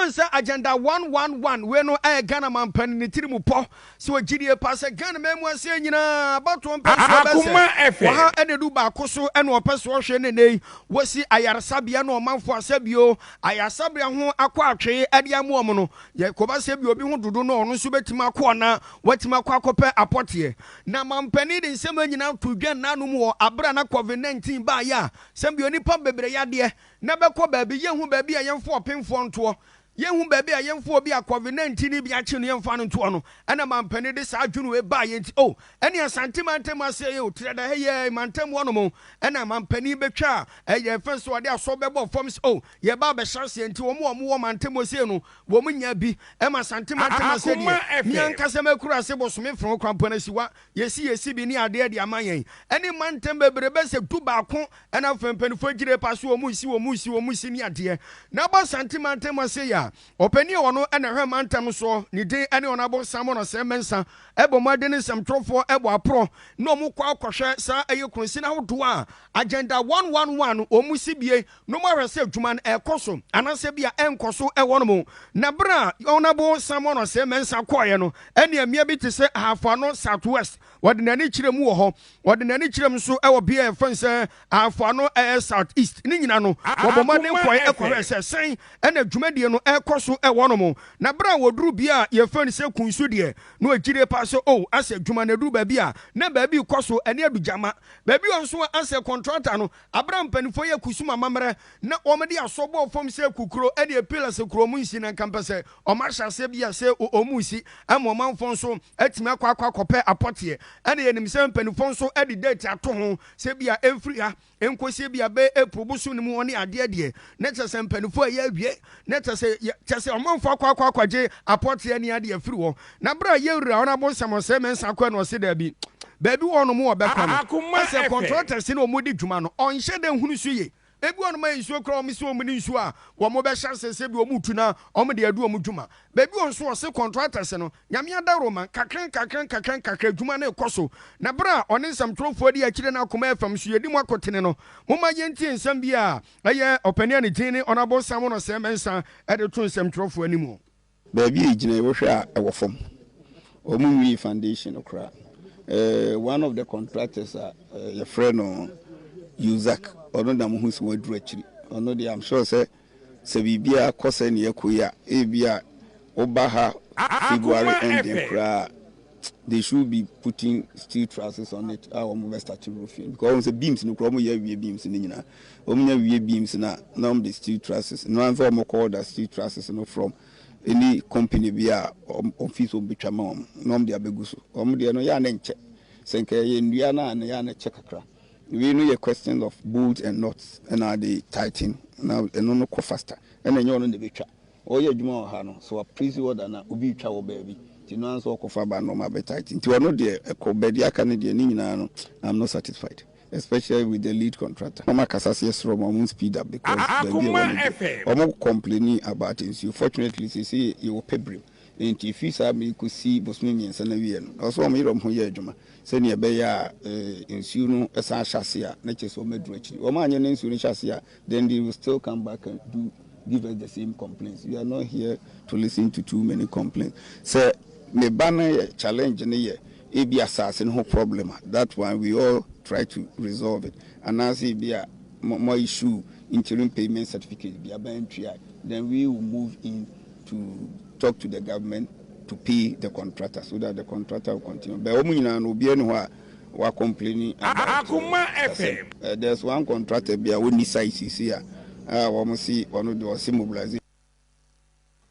Ɔkae sɛ Agenda one one one wei no ɛyɛ Ghana manpani ne tiri mu pɔ. Sɛ wɔ gyidie paa sɛ Ghana man mu aseɛ nyinaa abatoɔ mpɛ nso ɔbɛsɛ wɔ ha ɛna ɛdu baako so ɛna ɔpɛ sɛ ɔhwɛ ne nɛyi wɔsi ayaresabea ne ɔmanfoɔ asɛ bio ayaresabea ho akɔ atwee ɛde ama wɔn no yɛ kɔba sɛ bi obi ho dodo no ɔno nso bɛtumi akɔ ɔna watumi akɔ akɔpɛ apɔteɛ na manpani de nsɛm nyinaa to dwa nna no mu wɔ abere a na covid 19 baayɛ a sɛ bio nipa bebree yadeɛ na bɛkɔ baabi, yɛnhu baabi a yɛmfa ɔpemfoɔ ntoɔ, yɛnhu baabi a yɛmfa obi a covid 19 no bi akye no yɛmfa no ntoɔ no, ɛna mampanin de saa adwene wei baa yɛn nti, oh, ɛne Asante mantam aseɛ yi o, Tirada ha yi ɛ, mantam hɔ nom o, ɛna mampanin bɛtwa a, ɛ, yɛn fɛn so ɔde asɔ bɛbɔ fam sɛ, oh, yɛba abɛhyɛ aseɛ nti wɔn a wɔwɔ mantam hɔ sei no, wɔn nyaa bi, ɛma Asante mantam aseɛ deɛ, me ankasa makura ase bosome frɔn, Kwampɔn Asiwa, Yɛasiesie bi ne adeɛ de ama yɛn ne mantam bebrebe sɛ du baako na afei mpaninfoɔ agyire pa so wɔn resi wɔn resi wɔn resi ne adeɛ na ba Asante mantam ha sei a ɔpanin a ɔno na ɛhwɛ mantam soɔ ne din ne Ɔnabɔ Simon Asɛm Mensa ɛbɔ mmɔden ne nsɛmtwerɛfoɔ ɛbɔ aporɔ na wɔn kɔ akɔhwɛ saa ɛyɛ kronsin ahodoɔ a agenda 111 wɔn si bie no mu ahwɛ sɛ adwuma no ɛrekɔ so anaasɛ ebia ɛrenkɔ so wɔ no mu. Na bere a Ɔnabo Samuel Osei Mensah kɔeɛ no, ɛnneɛ mmea bi te sɛ Ahafo Ano South West, ɔde n'ani kyerɛ mu wɔ hɔ, ɔde n'ani kyerɛ mu nso wɔ bea a yɛfrɛ no sɛ Ahafo Ano South East. Ne nyinaa no, wɔbɔ mmɔden kɔe kɔhwɛɛ sɛ sɛn na dwumadie no ɛrekɔ so wɔ no mu. Na bere a wɔduruu bea a yɛfrɛ no sɛ Kun so deɛ, na wɔgye die paa sɛ, Oh, asɛ adwuma no aduru baabi a na baabi rekɔ so ne adugyama. Baabi wɔ hɔ nso a asɛ kɔntrata no Abere a mpaninfoɔ yi akusum amamerɛ na wɔn de asɔ bɔɔ fam sɛ akukuro ɛdeɛ pillars akuro wɔn nsi na nka mpɛ sɛ wɔn ahyɛ aseɛ bi a sɛ wɔn mu si ɛma ɔmanfoɔ nso atumi akɔ akɔ akɔpɛ apɔteɛ ɛna yɛnim sɛ mpaninfoɔ nso ɛde date ato ho sɛ bi a ɛmfiri ha ɛnkɔsie bi a bɛyɛ April bosom no mu hɔ ne adeɛ deɛ na kyerɛ sɛ mpaninfoɔ a yɛawie Na kyerɛ sɛ, yɛ, kyerɛ sɛ, ɔmanfoɔ akɔ akɔ akɔgye apɔteɛ ne adeɛ afiri hɔ. Na berɛ a yɛwura wɔn abonsam ɔsɛe mɛnsa kɔɛ no, ɔse, Daabi, baabi wɔ hɔ nom wɔbɛkɔ no, ɛsɛ kɔntrɔtɛse na wɔn di dwuma no, ɔnhyɛ da nhunu so ye. Ebi wɔ hɔ nom a nsuo kura wɔn, se wɔn ne nsuo a wɔn bɛhyɛ aseɛ sɛ bi wɔn tu na wɔn de adi wɔn dwuma. Baabi wɔ hɔ nso ɔse kɔntrɔtɛse no, Nyame adaworo ma, nkakra nkakra nkakra nkakra dwuma no rekɔ so. Na berɛ a ɔne nsɛmtwerɛfoɔ di akyire na akoma yɛ fam nso, yɛdi mo akotene no, momma yɛntie nsɛm biara a Ɛyɛ ɔpanin a ne din ne Ɔnabɔ Simon Ɔsɛe-Mensah de to nsɛmtwerɛfoɔ anim. Baabi a egyina yi wohwɛ a ɛwɔ fam. Wɔn nwie foundation no koraa. Eh, one of the contractors a eh, yɛfrɛ no Yuzak, ɔno na mohu sɛ waduru akyiri. Ɔno deɛ I'm sure sɛ sɛ biribiara kɔ sɛ nea ɛkɔ yi a, ebi a woba ha February ending koraa a, They should be putting steel trusses on it a wɔn bɛ start roofing because wɔn sɛ beams no kura wɔn yɛ awie beams no nyinaa wɔn nya wie beams na na wɔn de steel trusses no ansa wɔn kɔ order steel trusses no from any company bi a wɔn fees wɔn betwa ma wɔn na wɔn de abegu so wɔn deɛ no yɛ anɛ nkyɛ sɛ nka yɛ nnua no a na yɛ anɛ kyɛ kakra wei no yɛ questions of bolts and nuts ɛna de tighten na ɛno no kɔ faster ɛna ɛnyɛ wɔn na ebetwa. Ɔreyɛ adwuma wɔ ha no, sɛ wɔaplesi order no a, obi retwa wɔ baabi, nti ɔno ara nso ɔkɔfa ba nnoɔma bɛtighten. Nti ɔno deɛ, ɛkɔ, but deɛ aka no deɛ, ne nyinaa no, I'm not satisfied, especially with the lead contractor. Wɔn akasa sɛ yɛsrɛ wɔn a wɔn speed up because baabi a ɛwɔ no deɛ, wɔn complaini about nsuo. Fortunately, seesei yɛwɔ Pebrim, nti ɛfiri saa bere yi kɔsi bosome mmiɛnsa no awieɛ no, ɛwɔ sɛ wɔyere wɔn ho yɛ adwuma sɛdeɛ ɛbɛyɛ a nsuo no san hyɛ aseɛ a, na kyerɛ sɛ wɔaduru akyiri. Wɔanyɛ na nsuo no hyɛ aseɛ a, Then they will still come back and do give us the same complaints. We are not here to listen to too many complaints. Sɛ me ba no yɛ challenge no yɛ ebi asase no ho problem a, that one we all try to resolve it. Anaasɛ ebi a mo mo issue interim payment certificate bi a mantua a, then we will move in to talk to the government to pay the contractor so that the contractor will continue. But wɔn nyinaa no obiara ni hɔ a wa complaini about uh, akoma fm uh, there's one contractor bi a wɔnni site sisi a uh, wɔn si ɔno de ɔsi mobilization.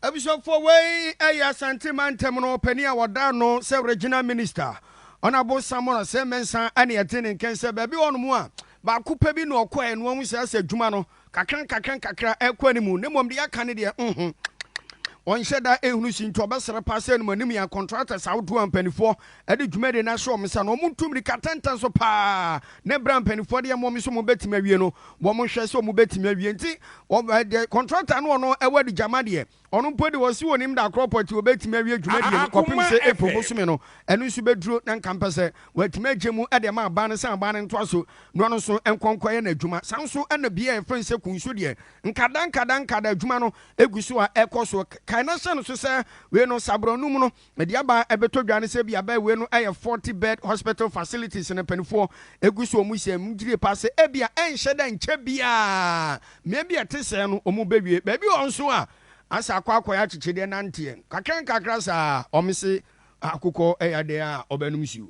abusuafoɔ wei ɛyɛ asante mantam no ɔpani a wɔdaa no sɛ regional minister ɔnabo samora sɛ mɛnsa ɛne ɛte ne nkɛn sɛ baabi hɔ nom a baako pɛ bi na ɔkɔɛ no ahu sɛ asɛ adwuma no Kakra nkakra nkakra ɛkɔ animu na mmom deɛ aka ne deɛ nho ɔnhyɛ da ɛhunu si nti ɔbɛsrɛ paa sɛ nom anim yɛn contractors ahodoɔ a mpanifoɔ ɛde dwumadie no ahyɛ wɔn nsa no wɔn ntu mirika tɛntɛn so paa ne berɛ a mpanifoɔ deɛ mmom so wɔn bɛtumi awie no wɔn hwɛ sɛ wɔn bɛtumi awie nti wɔn deɛ contractor no ɔno ɛwɔ adigyama deɛ Ɔno mpo de, ɔse ɔnim da korɔ pɔtee ɔbɛtumi awie dwumadie no kɔpem sɛ April bosome no ɛno nso bɛduro na nka mpɛ sɛ watumi agye mu de ama aban no sɛ aban no ntoaso no no nso nkɔ nkɔyɛ n'adwuma. Saa nso na bea a yɛfrɛ no sɛ Kunso deɛ nkada nkada nkada adwuma no gu so a ɛkɔ so. Kae na hyɛ no so sɛ wei no saborɔ anum no Ɛde aba a ɛbɛtɔ dwa ne sɛ ebia Byway no yɛ forty bed hospital facilities na mpanimfoɔ gu so a wɔn hyɛ mu gyidie paa sɛ ebia ɛnhyɛ da nkyɛ biara mmea bi a ɛte sɛɛ no wɔn bɛwie. Baabi wɔ hɔ nso a asɛ akɔ akɔyɛ akyekyedeɛ nanteɛ, nkakrankakra saa a wɔn se akokɔ yɛ adeɛ a ɔbɛnom nsuo.